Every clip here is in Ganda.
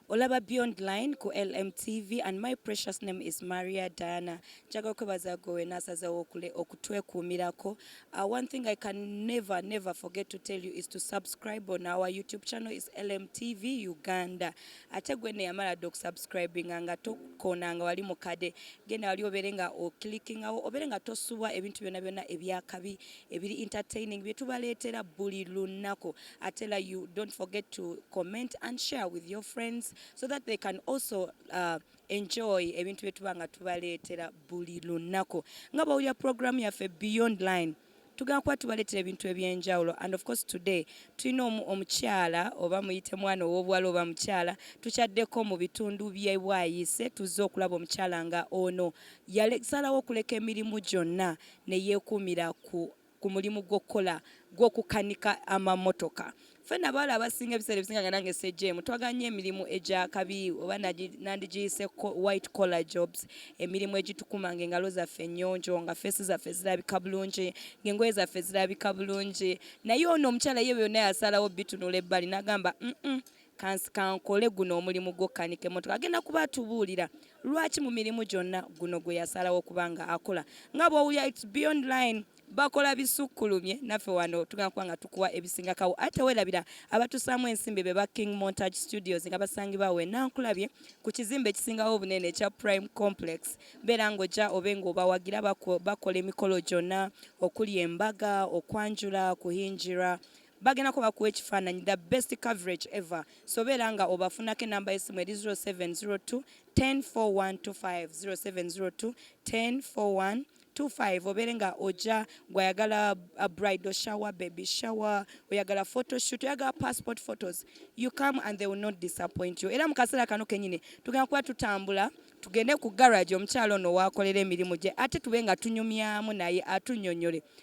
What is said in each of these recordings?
Olaba Beyond Line ku LMTV and my precious name is Maria Diana. Njaga okwebaza gwe wena asazewo okule okutwekuumirako. Uh, one thing I can never never forget to tell you is to subscribe on our YouTube channel is LMTV Uganda. Ate gwe ne yamala do subscribing nga tokona nga wali mukade. Genda wali obere nga o clicking awo obere nga tosubwa ebintu byona byona ebyakabi ebiri entertaining bye tubaleetera buli lunako. I tell you don't forget to comment and share with your friends so that they can also uh, enjoy ebintu bye tuba nga tubaleetera buli lunaku nga bawulira program yaffe beyond line tugenda kuba tubaleetera ebintu ebyenjawulo and of course today tulina omukyala oba muyite mwana ow'obuwala oba mukyala tukyaddeko mu bitundu byebwayise tuzze okulaba omukyala nga ono yasalawo okuleka emirimu gyonna ne yeekuumira ku ku mulimu gw'okukola gw'okukanika amamotoka ffena abawala abasinga ebiseera ebisinga nga nange sejemu twagala nnyo emirimu egyakabi oba nandigiyise white collar jobs emirimu egitukuma nga engalo zaffe ennyonjo nga feesi zaffe zirabika bulungi ngaengoye zaffe zirabika bulungi naye ono omukyala ye byonna yasalawo bitunula ebbali nagamba mm Kansi kankole guno omulimu gw'okukanika emmotoka. Agenda kuba atubuulira lwaki mu mirimu gyonna guno gwe yasalawo okuba nga akola. Nga bw'owulira it's beyond line bakola bisukkulumye naffe wano tugenda kuba nga tukuwa ebisinga kawo ate werabira abatusaamu ensimbi be ba king montage studios nga basangibwa we nankulabye ku kizimbe ekisingawo obunene ekya prime complex beera ng'ojja obe ng'obawagira bakola emikolo gyonna okuli embaga okwanjula kuhingira bagenda ko bakuwa ekifaananyi the best coverage ever sobeera nga obafunako enamba y'essimu eri 0702 104125 0702 1041 25 obeere nga oja gwayagala uh, bridal shower baby shower oyagala photoshoot oyagala passport photos you come and they will not disappoint you era mu kaseera kano kenyini tugenda kuba tutambula tugende ku garage omukyalo ono wakolera emirimu gye ate tube nga tunyumyamu naye atunyonyole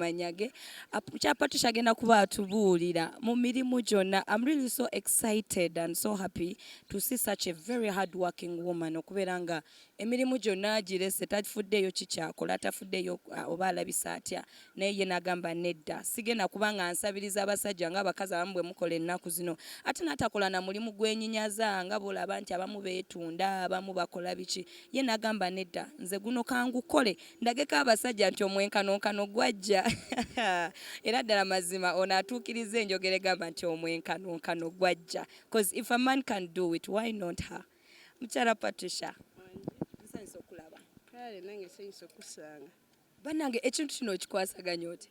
kumanya ge kyapa tukyagenda kuba atubuulira mu mirimu gyonna am really so excited and so happy to see such a very hard working woman okubeera nga emirimu gyonna agirese tafuddeeyo kikyakola tafuddeeyo uh, oba alabisa atya Naye ye nagamba nedda sigenda kuba nga nsabiriza abasajja nga abakazi abamu bwemukola ennaku zino ate natakola na mulimu gwenyinyaza nga bwolaba nti abamu betunda abamu bakola biki ye nagamba nedda nze guno kangukole ndageko abasajja nti omwenkanonkano gwajja era ddala mazima ono atuukiriza enjogera egamba nti omwenkanonkano gwajja coz if a man can do it why not her mukyala Patricia nsanyuse okulaba kale nange nsanyuse okusanga banange ekintu kino okikwasaganya oti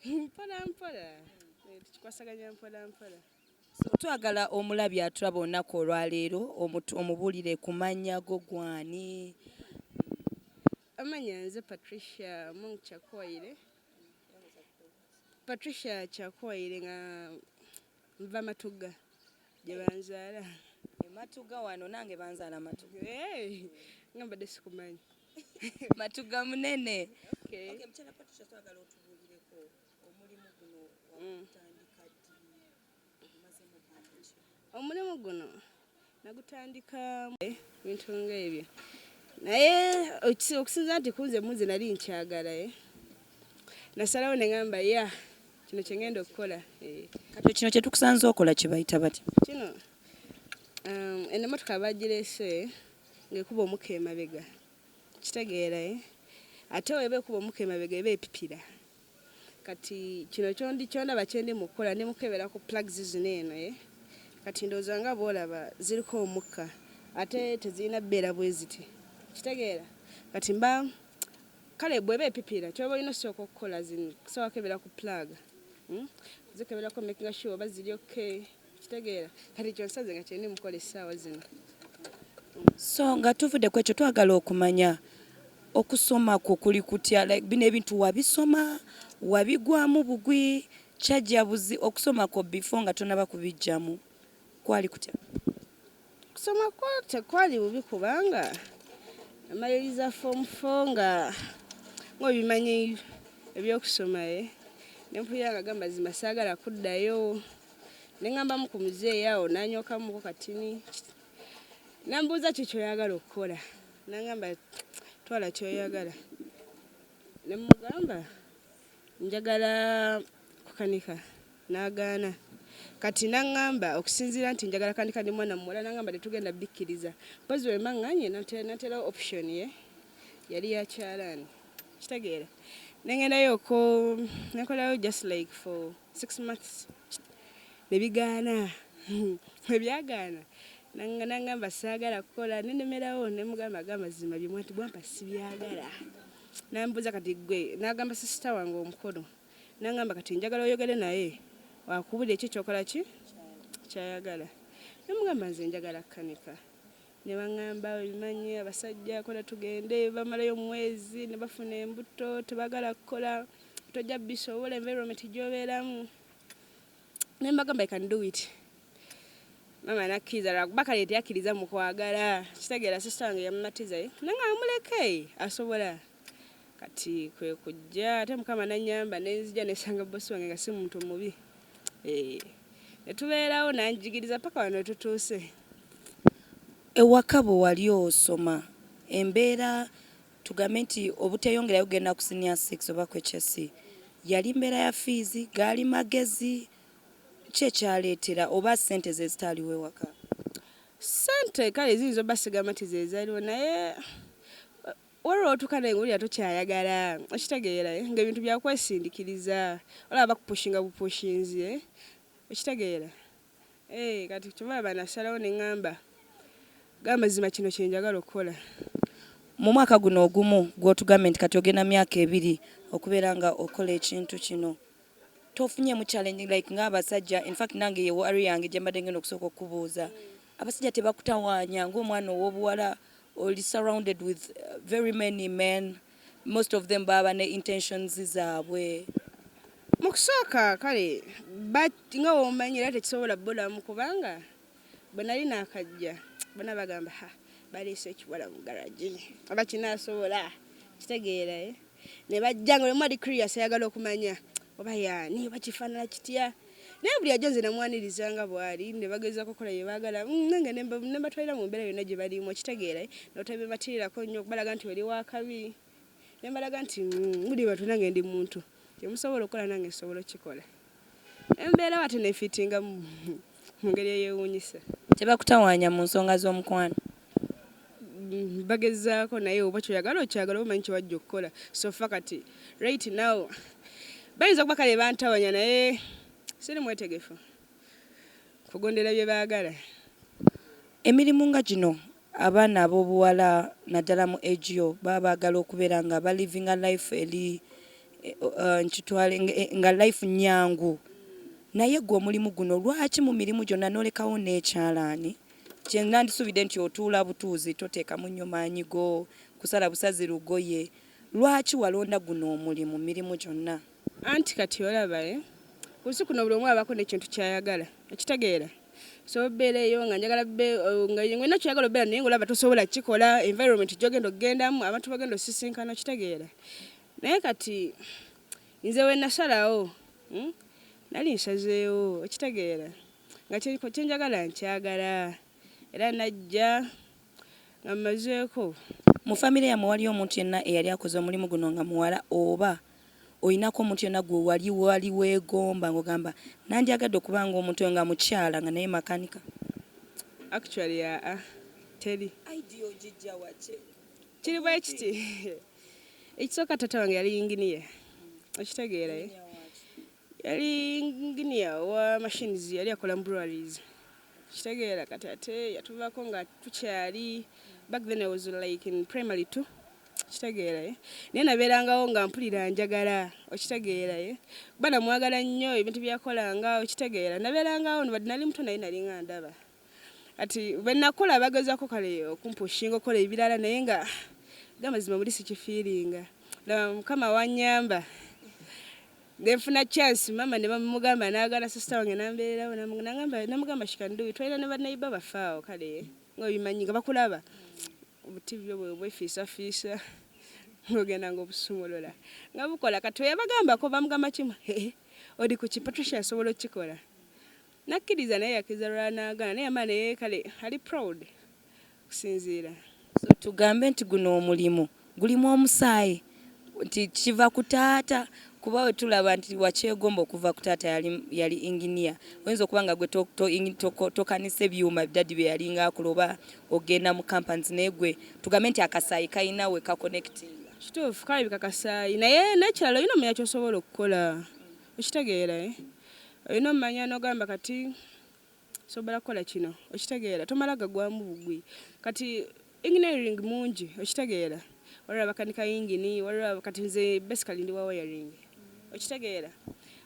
mpola mpola eh, tukikwasaganya mpola mpola twagala omulabi atulaba olunaku olwaleero omubulire ku mannya go gwani amanya nze patricia mong kyakoire patricia kyakoire nga Nva Matugga gye banzaala. Matugga wano nange banzaala Matugga. Hey, nga mbadde sikumanyi. Matugga munene. Okay. Okay, mchana Patricia twagala otubulireko omulimu guno wakutandika ddi ogumazemu bbanga ki? Omulimu guno nagutandika bintu nga ebyo naye okusinza nti kunze munze nali nkyagala eh. nasalawo nengamba ya kino kyengenda okukola eh. kati kino kyetukusanza okola kibayita batya kino um, eno motoka bagirese ngaekuba omuka emabega kitegeera eh. ate weba ekuba omuka emabega eba epipira kati kino kyondi kyondaba kyendi mukukola ndi mukebera ku plugs zino eno ye eh? kati ndowooza nga bwolaba ziriko omukka ate tezirina beera bweziti kitegeera kati mba kale bweba epipira kyoba olina osooka okukola zino kusooka kebera ku plug hmm? zikeberako making sure oba ziri okay okitegeera kati kyonsaze nga kyendi mukola essaawa zino so nga tuvudde ku ekyo twagala okumanya okusoma kwo kuli kutya like bino ebintu wabisoma wabigwamu bugwi kyajja buzi okusoma kwo before nga tonaba kubijjamu kwali kutya Okusoma kwo tekwali bubi kubanga amaliriza foomu fo nga ng'obimanyi ebyokusoma ye eh? ne mpulira nga gamba zima saagala kuddayo ne ŋambamu ku muzeeyi awo nanyokamuko katini nambuuza ki kyoyagala okukola nangamba twala kyoyagala ne mugamba njagala kukanika n'agaana kati n'aŋŋamba okusinziira nti njagala kanika ndi mwana muwala n'aŋŋamba tetugenda bikkiriza mpozi bwe mbaŋŋanye nateerawo option ye yali ya kyalaani kitegeera ne ngendayo oko ne nkolayo just like for six months ne bigaana bwe byagaana n'aŋŋamba saagala kukola nenemerawo ne mugamba aga amazima bye mwati bwampa sibyagala nambuuza kati gwe nagamba sisita wange omukulu nangamba kati njagala oyogere naye wakubulira ekyo kyokola ki kyayagala nemugamba nze njagala kanika nebaŋamba bimanyi abasajja kola tugende bamalayo omwezi nebafuna embuto tebagala kukola tojja bisobola environment gyobeeramu ne mbagamba i can do it mama nakkiriza lwakuba kale teyakkiriza mu kwagala kitegeera sisita wange yamumatiza ye nanga amuleke asobola kati kwe kujja ate mukama nanyamba nenzija nesanga bosi wange nga si muntu mubi eh, ne tubeerawo nanjigiriza paka wano tutuuse ewaka bwe wali osoma embeera Tugambe nti obuteyongerayo kugenda ku senior six oba ku HSC yali mbeera ya fees, gaali magezi, ki ekyaleetera oba sente zezitaaliwo ewaka? Sente kale ziyinza obba sigamba nti zezaliwo naye waliwo wotuuka naye ngowulira tokyayagala okitegeera eh, nga ebintu byakwesindikiriza olaba bakupushinga bupushinzi eh, okitegeera. Eh, kati kyebaba nasalawo neŋamba gamazima kino kyenjagala okukola mu mwaka guno ogumu gwotugambye nti kati ogenda myaka ebiri okubeera nga okola ekintu kino tofunyemu challenge like ng'abasajja infact nange ye wari yange gyembadde ngenda okusooka okukubuuza abasajja tebakutawaanya ng'omwana ow'obuwala oli surrounded with uh, very many men Most of them baba ne intentions zaabwe. Mukusooka kale but nga womanyi era tekisobola bulamu kubanga bwenali nakajja bona bagamba ha baleese ekiwala mu garage oba kinasobola kitegeera eh? ne bajja nga buli omu ali curious ayagala okumanya oba yaani oba kifaanana kitya. naye buli ajja nze namwaniriza nga bwali ne bagezaako okukola bye baagala mm, nange ne mbatwalira mu mbeera yonna gye balimu okitegeera eh? notabibatirirako nnyo okubalaga nti oli wakabi ne mbalaga nti mm, muli bantu nange ndi muntu kyemusobola okukola nange nsobola okukikola embeera wate nefitinga mu ngeri eyewuunyisa tebakutawaanya mu nsonga z'omukwano Mm, bagezaako naye oba kyoyagala okyagala oba omanyi kyewajja okukola sofa kati right now bayinza okuba kale bantawanya naye siri mwetegefu kugondera bye baagala emirimu nga gino abaana ab'obuwala naddala mu egio baba baagala okubeera nga balivinga life eri eh, eh, nkitwale eh, nga life nyangu naye gwe omulimu guno lwaki mu mirimu gyonna nolekawo n'ekyalaani kye nandisuubidde nti otuula butuuzi toteekamu nnyo maanyi go kusala busazi lugoye. Lwaki walonda guno omulimu mu mirimu gyonna? Anti kati olaba eh, ku nsi kuno buli omu abaako n'ekintu ky'ayagala. Okitegeera? Nsobola obeereyo nga njagala be oh, nga olina ky'oyagala obeera naye ng'olaba tosobola kukikola, environment gy'ogenda okugendamu, abantu b'ogenda osisinkana, okitegeera? Naye kati nze we nasalawo, hmm, nali nsazeewo, okitegeera? nga kyenjagala nkyagala era najja nga mmazeeko. Mu famire yammwe waliyo omuntu yenna eyali akoze omulimu guno nga muwala oba olinako omuntu yenna gwe wali wali weegomba ng'ogamba nandyagadde okuba ng'omuntu oyo nga mukyala nga naye makanika? Actually aa teri. Idea ogijja wa? Kiri bwe kiti ekisooka taata wange yali yinginiya okitegeera. Yali nginiya wa machines yali akola mu breweries kitegeera kati ate yatuvaako nga tukyali back then I was like in primary two okitegeera ye eh? naye nabeerangawo nga mpulira njagala okitegeera ye eh? kuba namwagala nnyo ebintu byakolanga okitegeera nabeerangawo nobadde nali muto naye nalinga ndaba kati bwenakola bagezako kale okumpushinga okola ebirala naye nga gamazima muli sikifiiringa laba mukama wanyamba nenfuna chance mama nebamugamba nagana sisita wange nambeererawo namugamba shikanduwi twalina ne banaiba baffe awo kale nga obimanyi nga bakulaba obutivi obwe bwefiisafiisa ng'ogenda ng'obusumulula nga bukola kati weyabagambako bamugamba kimu oli ku ki patricia asobola okukikola Nakkiriza naye yakkiriza lulala nagaana naye yamala naye kale ali proud okusinziira. So tugambe nti guno omulimu gulimu omusaayi nti kiva ku taata kuba wetulaba nti wakyegomba okuva ku taata yali, yali engineer oyinza okuba nga gwe tokanisa ebyuma dadi byeyalinga akola oba ogenda mu companies naye gwe tugambe nti akasaayi kalina we kakonectinga. Kituufu kalabika kasaayi naye nekirala olina omanya kyosobola okukola Okitegeera eh? Olina omanya nogamba kati sobola kukola kino okitegeera tomala gagwamu bugwi kati engineering mungi okitegeera waliwo abakanika yingini waliwo kati nze basically ndi wa wiring okitegeera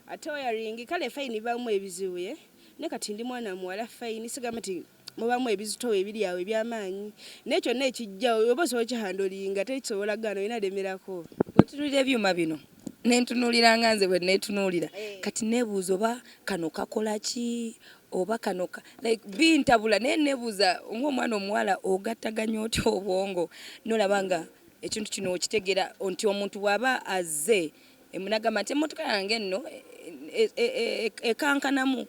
ate wiring kale fayini bamu ebizibu ye eh? ne kati ndi mwana muwala fayini sigamba ti mubamu ebizitowa ebiri awo ebyamaanyi naye kyonna ekijjawo oba osobola kihandolinga teri kisobola gaana olina lemerako wetunulira ebyuma bino nentunulira nga nze bwe netunulira eh. kati nebuuza oba kano kakola ki oba kano like bintabula naye nebuuza ngaomwana omuwala ogattaganya otya obwongo nolaba nga ekintu kino okitegera nti omuntu bwaba azze Emu nagamba nti emmotoka yange nno ekankanamu e, e, e,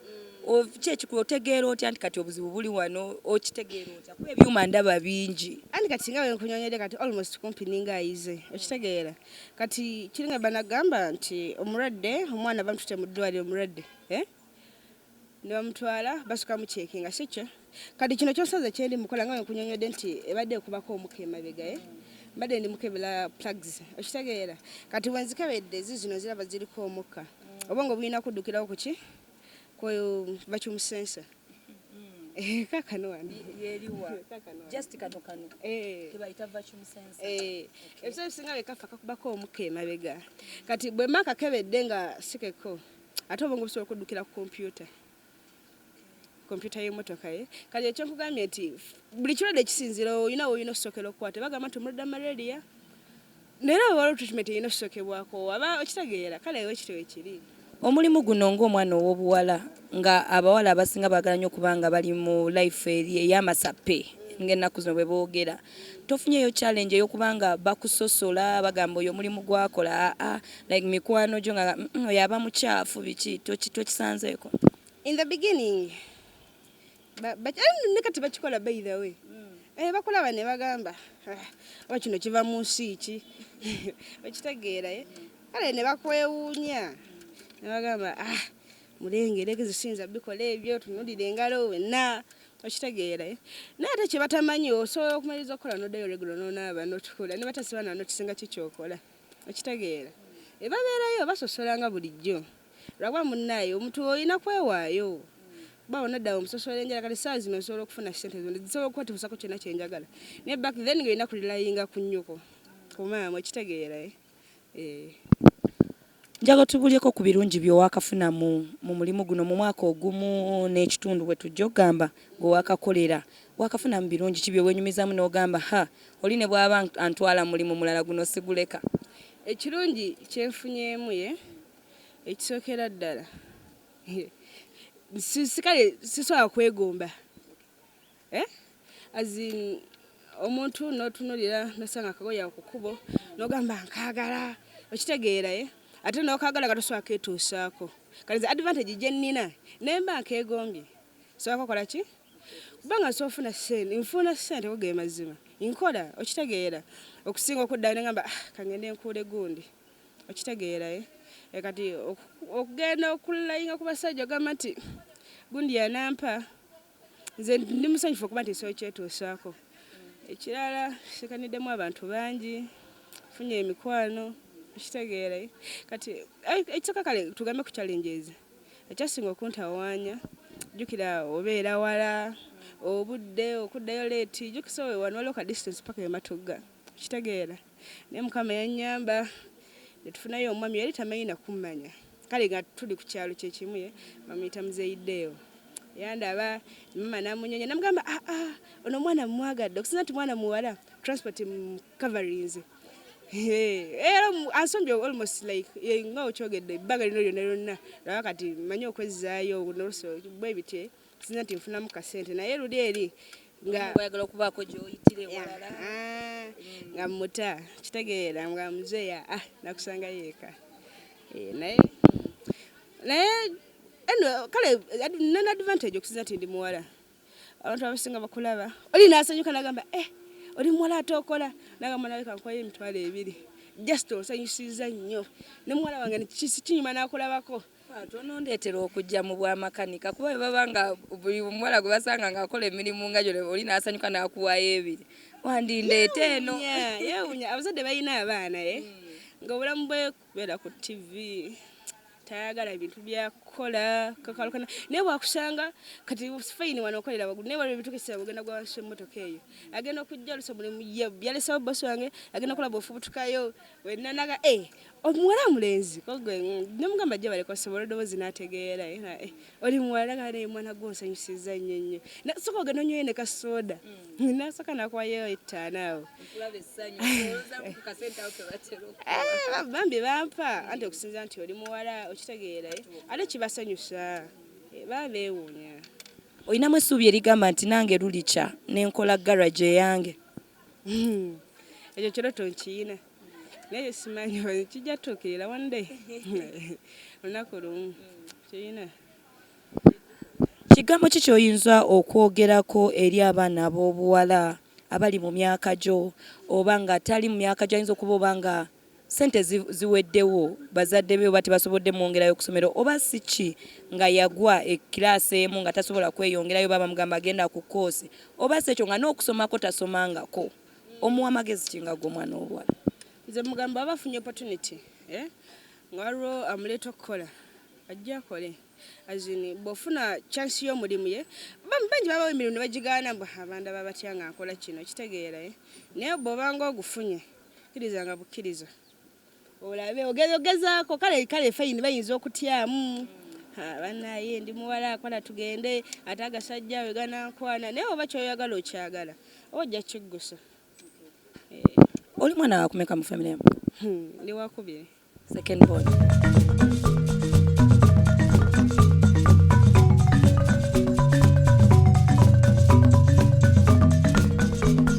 kyekikulu otegeera otya nti kati obuzibu buli wano okitegeera otya kuba ebyuma ndaba bingi andi kati nga wenkunyonyede kati almost kumpi ninga ayize okitegeera kati kiringa banagamba nti omulwadde omwana bamutute mu ddwaliro omulwadde eh? ne bamutwala basooka muceekinga si kyo kati kino kyosaze kyendi mukola nga wenkunyonyodde nti ebadde ekubako omuka emabegaye eh? mbadde ndi mukebela plugs okitegeera kati wenzikebedde zizino ziraba ziriko omukka mm. obongo bulina kuddukirawo kuki ku vacuum sensor Eh, kakano wano yeriwa just kano kano eh kebayita vacuum sensor eh ebisinga bekafa kakubako omuka emabega kati bwe maka kebedde nga sikeko ate obwongo busobola okuddukira ku kompyuta kompyuta y'emotoka ye kati ekyo nkugambye nti buli kirwadde kisinzira olina woolina okusokera okukwata bagamba nti omulwadde malaria naye abo waliwo treatment erina okusokebwako aba okitegeera kale ewe kityo wekiri omulimu guno ng'omwana ow'obuwala nga abawala abasinga baagala nnyo okuba nga bali mu life eri ey'amasappe ng'ennaku zino bwe boogera Tofunyeyo challenge eyokuba nga bakusosola bagamba oyo omulimu gwakola aa like mikwano gyo nga mm oyo aba mukyafu biki tokisanzeeko. In the beginning ne kati bakikola by the way eh, bakulaba ne bagamba ah, oba kino kiva mu nsi ki okitegeera eh? kale ne bakwewuunya ne bagamba ah mulengere gezisiinza bikola ebyo tunulira engalo wenna okitegeera eh? naye ate kyebatamanyi osobola okumaliriza okukola nodayo regulo nonaaba notukula ne batasiba na notisinga ki kyokola okitegeera ebabeerayo basosola nga bulijjo lwakuba munnaayo omuntu olina kwewaayo bawo naddawo omusosola enjala kati saa zino osobola okufuna sente zona zisobola okukwatiusako kyona kyenjagala naye back then nga olina kulilayinga ku nnyoko ku maama okitegeera eh? Njagala otubuulyeko ku birungi byewakafuna mu mu mulimu guno mu mwaka ogumu n'ekitundu bwetujja okugamba gwewakakolera. Wakafunamu birungi ki byewenyumizaamu n'ogamba ha oli ne bwaba antwala mu mulimu mulala guno siguleka? Ekirungi kye nfunyeemu ye ekisookera ddala kale sisobola kwegomba. eh? as in omuntu notunulira nosanga akagoye ako kukubo nogamba nkagala okitegeera ye eh? ate nokagala nga tosobola ketuusaako kati nze advantage gye nnina naye mba nkeegombye sobola kokola ki kubanga nsobola ofuna sente nfuuna sente go ge mazima nkola okitegeera okusinga okuddayo nengamba ah, kangende nkuule gundi okitegeera ye eh? kati okugenda okulayinga ku basajja ogamba nti gundi yanampa nze ndi musanyufu okuba nti nsooyi kyetuusaako ekirala sikaniddemu abantu bangi funye emikwano ekitegeera kati ekisaka kale tugambe ku challenges ekyasinga okuntawaanya jjukira obeera wala obudde okuddayo leeti jjukisa wano waliwo ka distance paka ematugga kitegeera naye mukama yanyamba netufunayo omwami yali tamanyi nakummanya kale nga tuli ku kyalo kyekimu ye bamuyita muzeyideewo yandaba mama namunyonya namugamba aa ah, ah, ono omwana mumwagadde okusinza nti mwana muwala transport coverings era ansombye almost like nga okyogedde ebbanga lino lyonna lyonna laba kati manyi okwezzaayo noluse bwebitye sinza nti nfunamu kasente naye luli eri ngaayagala okubaako gyoyitira ewalala ah, nga muta kitegeera nga muzeeya ah, nakusanga yeeka eh, naye naye kale nana advantage okusinza nti ndi muwala abantu abasinga bakulaba oli nasanyuka nagamba eh oli muwala ate okola nagamba nawe kankoye emitwalo ebiri just osanyusiza nnyo ne muwala wange kinyuma nakulabako tonondeetera okujja mu bwamakanika kuba bwe baba nga buli omuwala gwe basanga ng'akola emirimu nga gyo oli n'asanyuka n'akuwaayo ebiri wandindeeta eno yeewunya abazadde balina abaana e nga obulamu bwe kubeera ku ttivi tayagala bintu byakukola kakalukana naye bwakusanga kati fayini wano okolera wagulu naye waliwo ebintu kesera ogenda gwansi emmotoka eyo agenda okujja olusa mulimu yalesawo bosi wange agenda okola bwofubutukayo wenanaga e eh, omuwala mulenzi kogwe nemugamba jja baleka osobola eddoboozi n'ategeera era eh, oli muwala nga naye mwana gwe onsanyusizza nnyo nnyo nasoka ogenda onywayo ne kasooda mm. nasoka nakwayo ettaano awo eh, bambi bampa anti okusinza nti oli muwala okitegeera eh. ate kibasanyusa babeewuunya olinamu essuubi erigamba nti nange lulikya nenkola garage eyange hmm. ekyo kiro tonkiyina naye simanyi kijja tutuukirira one day olunaku lumu kirina kigambo ki kyoyinza okwogerako eri abaana ab'obuwala abali mu myaka gyo oba nga tali mu myaka gyo ayinza okuba oba nga sente ziweddewo bazadde be oba tebasobodde mwongerayo kusomero oba si ki nga yagwa ekiraasi emu nga tasobola kweyongerayo oba bamugamba agenda ku koosi oba si ekyo nga n'okusomako tasomangako omuwa magezi ki nga gwe omwana ow'obuwala nze mugamba aba afunye opportunity eh? nga waliwo amuleeta okukola ajja akole azini bw'ofuna chance y'omulimu ye bam- bangi babawo emirimu ne bagigaana mbu abanda babatya nga nkola kino kitegeera eh? naye bw'obanga ogufunye kkiriza nga bukkiriza olabe ogezogezaako kale kale fayini bayinza okutyamu banaye ndi muwala akola tugende ate agasajja we ganankwana naye oba kyoyagala okyagala oba ojja kiggusa eh. oli mwana wakumeka mu famire yamu hmm, ndi wakubiri second born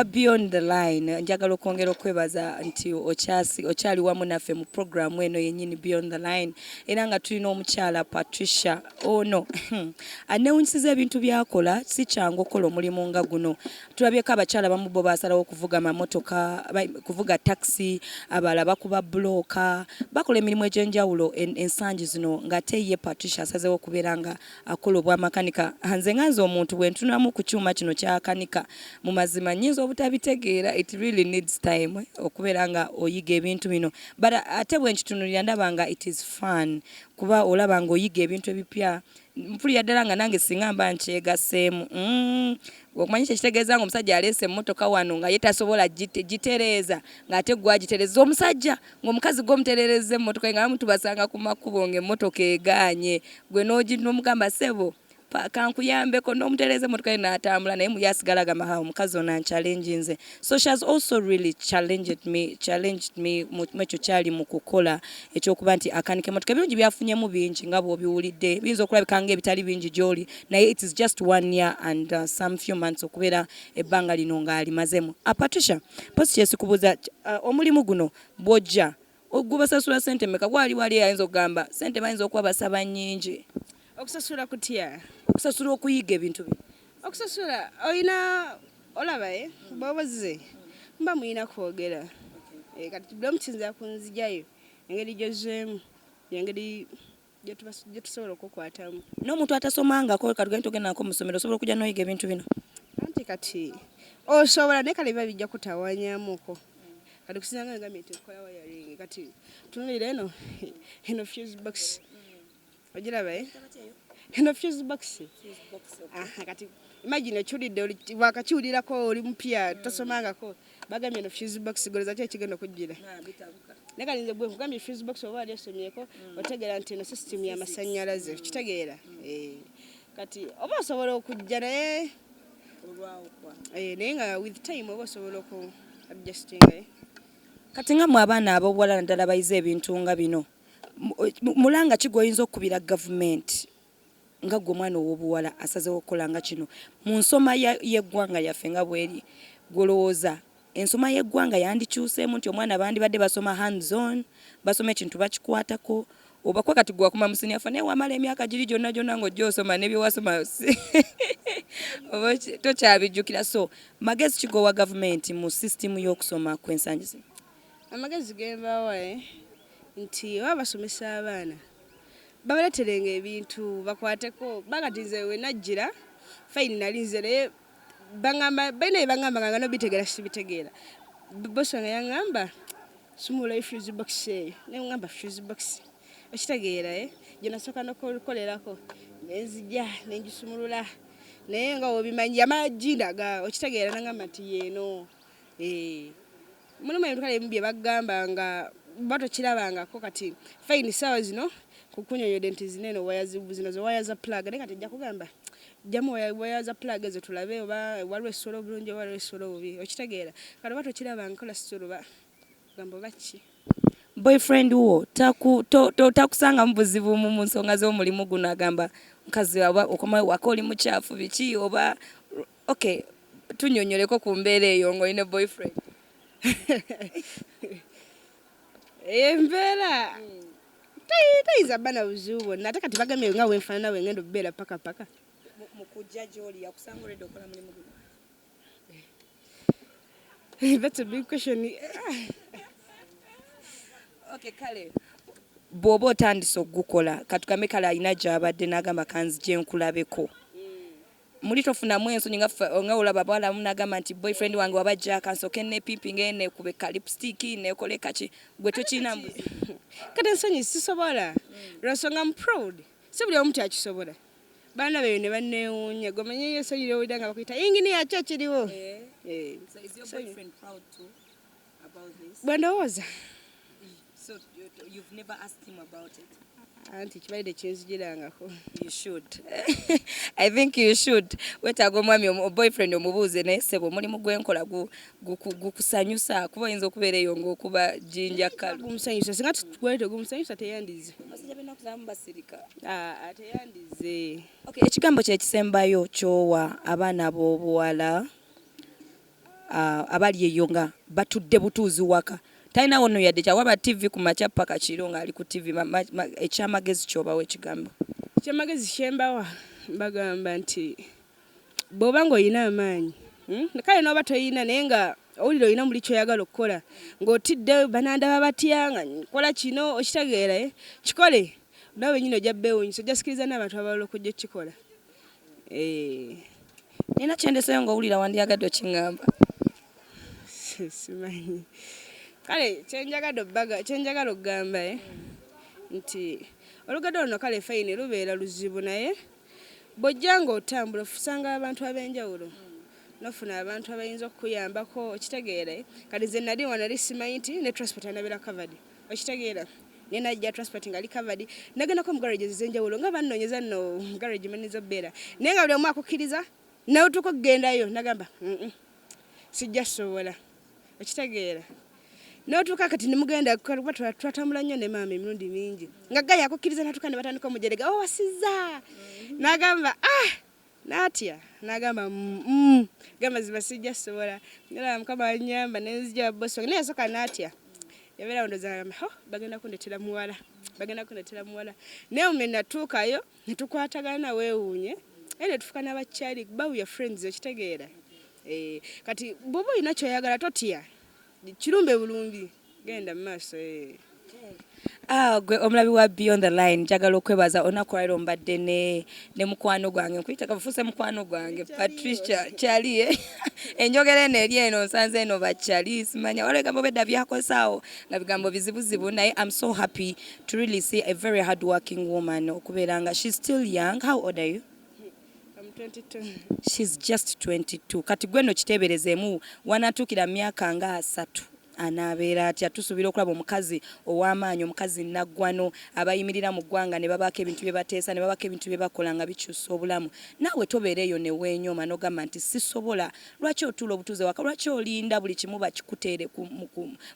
wa beyond the line njagala okwongera okwebaza nti okyasi okyali wamu naffe mu program eno yenyini beyond the line era nga tulina omukyala Patricia ono hmm, anewunyisiza ebintu byakola si kyangu okola omulimu nga guno tulabyeko abakyala bamu bo basalawo okuvuga mamotoka kuvuga taxi abala bakuba bloka bakola emirimu egyenjawulo ensangi zino ngate ye Patricia asazewo okubeera nga akola obwa makanika nze nga nze omuntu bwentunamu ku kyuma kino kyakanika mu mazima nyinza obutabitegeera it really needs time eh, okubeera nga oyiga ebintu bino but ate bwenkitunulira ndaba nga it is fun kuba olaba nga oyiga ebintu ebipya mpulira ddala nga nange singa mba nkyegaseemu mm. okumanya ekyo ekitegeeza nga omusajja aleese emmotoka wano nga ye tasobola gitereeza ng'ate gwagitereeza omusajja ng'omukazi gwe omutererezza emmotoka nga bamu tubasanga ku makubo ng'emmotoka egaanye gwe n'omugamba sebo kankuyambeko n'omutereza emmotoka ye n'atambula naye muye asigala agamba ha omukazi ono anchallenge nze so she has also really challenged me challenged me mwekyo kyali mu kukola ekyokuba nti akanika emmotoka ebirungi byafunyemu bingi nga bw'obiwulidde biyinza okulabika nga ebitali bingi gy'oli naye it is just one year and uh, some few months okubeera ebbanga lino ng'alimazemu. A Patricia, post kyesikubuza uh, omulimu guno bwojja gubasasula sente meka gwali wali ayinza okugamba sente bayinza okuba basaba nyingi okusasula kutya okusasula okuyiga ebintu bi okusasula olina olaba e bobozize mba muyina kwogera eh, kati bulamu kiyinza kunzijayo engeri gyozeemu yengeri gyetusobola okukwatamu n'omuntu atasomangako katugende tugendako mu ssomero osobola okujja noyiga ebintu bino anti kati osobola naye kale biba bijja kutawanyamuko kati kusinzanga nga minti nkola wayaring kati tunulira eno eno fuse box ogiraba eh? eno fuse box kati imagine okiwulidde wakakiwulirako oli mupya tosomangako bagambye no fuse box goloza kye kigenda kujjira naye kati nze gwe nkugambye fuse box oba wali osomyeko mm. otegeera nti eno system ya masannyalaze mm. kitegeera mm. eh. kati oba osobola okujja naye eh, naye nga with time oba osobola oku adjustinga eh. kati nga mwe abaana ab'obuwala naddala bayize ebintu nga bino mulanga ki gwoyinza okukubira gavumenti nga gwe mwana owobuwala asazewo okukola nga kino mu nsoma yeggwanga yaffe nga bweri gwolowooza ensoma yeggwanga yandikyuseemu nti omwana bandibadde basoma hands on basoma ekintu bakikwatako obakuba kati gwe wakoma musinia fa naye wamala emyaka giri gyonna gyonna ngaojja osoma nebyewasoma oba tokyabijjukira so magezi kigowa gavumenti mu sisitimu y'okusoma kwensangi zino amagezi gembawae eh, nti oba basomesa abaana babaleterenga ebintu bakwateko kubanga ti nze wenajjira fayini nali nze naye baŋamba balina bye baŋambanga nga nobitegeera sibitegeera bosi wange yaŋamba sumulayo fuse box eyo naye ŋamba fuse box okitegeera e eh? gye nasooka nokukolerako nenzija nenjisumulula naye nga obimanyi yamala jindaga okitegeera naŋamba nti yeeno Eh, mulimu ebintu kale bye bagamba nga oba tokirabangako kati fayini ssaawa zino kukunyonyode nti zino eno waya zino ze waya za pulaga naye kati kugamba jamu waya za pulaga ezo tulabe oba waliwo essolo obulungi oba waliwo essolo obubi okitegeera kati oba tokirabanga kola sisolo ba gamba oba ki boyfriend wo takusangamu buzibu mu nsonga z'omulimu guno agamba mukazi oba okomawo waka oli mukyafu biki oba Ok, tunyonyoleko ku mbeera eyo nga olina boyfriend. Eyo embeera tayinza bba na buzibu bwonna ate kati bagambye nga wenfaanana we ngenda okubeera paka paka. Mu kujja gy'oli yakusanga olwedde okola mulimu guno? That's a big question. Ok, kale bw'oba otandise okugukola katugambe kale alina gy'abadde n'agamba kanzije nkulabeko. muli tofunamu ensonyi nga ffe nga olaba abawala abamu n'agamba nti boyfriend wange waba jjaaka nsooke nneepimpinga eyo neekube ka lipstick neekole kaki gwe tokirina mbuzi kati ensonyi sisobola lwa nsonga am proud si buli omu nti akisobola baana beeyo ne banneewuunya gwe omanyi eyo ensonyi ly'owulira nga bakuyita yinginiya ki ekiriwo eh. Eh. So is your boyfriend proud too? bwe ndowooza anti kibali tekinzijirangako i think you should wetaaga omwami boyfriend omubuuze naye sebo omulimu gwenkola gukusanyusa kuba oyinza okubeera eyo ngaokuba jinja kalumusanyusa singa twete gumusanyusa teyandize teyandize ekigambo kyekisembayo kyowa abaana b'obuwala abali eyo nga batudde butuuzi waka talina wono yadde kyawaba tv ku makya paka kiro nga ali ku tv ekyamagezi kyobawa ekigambo ekyamagezi kyembawa bagamba nti bwoba nga olina amaanyi hmm, kale noba toyina naye nga owulira olina muli kyoyagala okukola ngaotidde banandaba batya nga kola kino okitegeera eh? kikole nawe nyini ojja bewunyisa ojja sikiriza n'abantu abalala okujja okukikola Eh, nina kyendeseyo ngaowulira wandyagadde okiŋamba simanyi kale kyenjagala obbaga kyenjagala okugamba e eh, nti olugado luno kale fayini lubeera luzibu naye bwojja nga otambula ofusanga abantu ab'enjawulo nofuna abantu abayinza okukuyambako okitegeere kati ze nali wanali simanyi nti ne transport anabeera covered okitegeera naye najja transport nga ali covered nagendako mu garages ez'enjawulo nga bannonyeza nno mu garage mweneza obbeera naye nga buli omu akukkiriza nawe tuuka okugendayo nagamba sijja sobola okitegeera notuuka kati nemugenda kuba twatambula nnyo ne maama emirundi mingi nga gayi akukkiriza natuuka ne batandika omujerega owasiza oh, nagamba ah Natya nagamba mm gamazima sijja sobola ngala mukama anyamba nenzija boss wange naye soka natya yabera ndo zalama ho bagenda kundetera muwala bagenda kundetera muwala naye ume natukayo netukwatagana wewunye ene tufuka nabachali babu ya friends okitegeera eh kati bubu inakyo yagala totya Kirumbe bulungi genda maaso ee. Ah, gwe omulabi wa beyond the line njagala okwebaza olunaku lwaliro mbadde ne ne mukwano gwange nkuyita kafuuse mukwano gwange patricia chalie enjogera eno eri eno nsanze eno bachali simanya waliwo ebigambo bedda byakozaawo nga bigambo bizibuzibu naye am so happy to really see a very hard working woman okubeera nga she still young how old are you She's just 22 kati gwe no kiteeberezemu wanatuukira myaka nga asatu anaabeera atya tusuubira okulaba omukazi ow'amaanyi omukazi naggwano abayimirira mu ggwanga ne babaako ebintu bye bateesa ne babaako ebintu bye bakola nga bikyusa obulamu naawe tobeera eyo ne weenyoma n'ogamba nti sisobola lwaki otuula obutuuze waka lwaki olinda buli kimu bakikuteere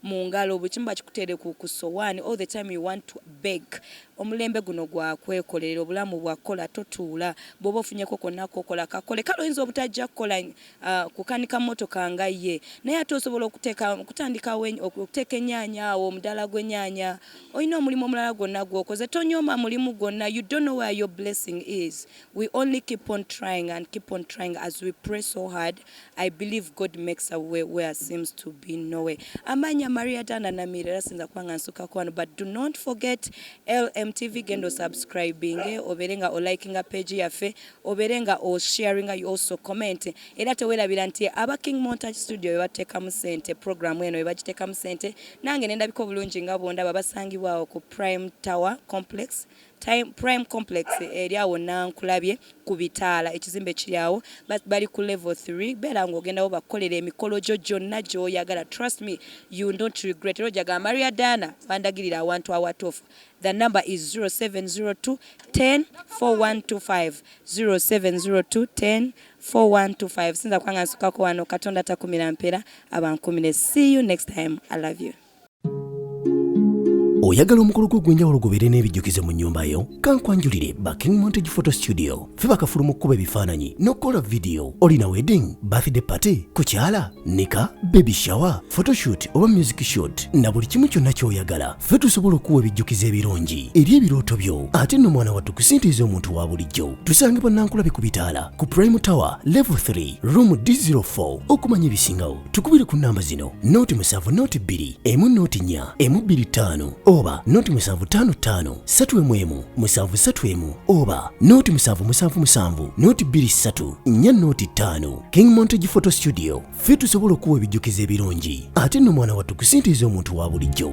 mu ngalo buli kimu bakikuteere ku sowaani all the time you want to beg Omulembe guno gwa kwekolerera obulamu bwa kola totuula. Bw'oba ofunyeko konna k'okola kakole. Kale oyinza obutajja kukola kukanika mmotoka nga ye naye ate osobola okuteeka okutandikawo okuteeka ennyaanya awo omudaala gw'ennyaanya. Olina omulimu omulala gwonna gw'okoze. Tonyooma mulimu gwonna. You don't know where your blessing is. We only keep on trying and keep on trying as we pray so hard. I believe God makes a way where seems to be no way. Amanya Maria Tana na Mirera sinza kwanga nsuka kwano but do not forget LMTV gendo subscribing eh, oberenga o likinga page yafe oberenga o sharinga you also comment era tewela bilanti aba King Montage Studio bebateka mu sente program eno bebagiteka mu sente nange nenda biko bulungi nga bonda babasangibwa ku Prime Tower Complex Prime complex eri awo Nankulabye ku bitaala ekizimbe kiri awo bali ku level 3 beera nga ogendawo bakukolera emikolo gyo gyonna gy'oyagala trust me you don't regret era ojja gamba Maria Dana wandagirira awantu awatuufu the number is 0702 10 4125 0702 10 4125 sinza kubanga nsukako wano katonda takumira mpeera abankumire see you next time i love you oyagala omukolo gwo ogw'enjawulo gubeere n'ebijjukizo mu nnyumba yo kankwanjulire ba king montage photo studio fe bakafulu mu kukuba ebifaananyi n'okukola vidiyo olina wedding birthday party kukyala nika baby shower photoshoot oba music shoot na buli kimu kyonna ky'oyagala fe tusobola okuwa ebijjukizo ebirungi eri ebirooto byo ate nno mwana wattu kusintiiza omuntu wa bulijjo tusange bannankulabe ku bitaala ku prime tower level 3 room d04 okumanya ebisingawo tukubire ku namba zino noti musanvu noti bbiri emu noti nnya emu bbiri ttaano oba noti musanvu ttaano ttaano ssatu emu emu musanvu ssatu emu oba noti musanvu musanvu musanvu noti bbiri ssatu nnya noti ttaano king montage photo studio ffe tusobola okuwa ebijjukizo ebirungi ate nno mwana wattu kusintiiza omuntu wa bulijjo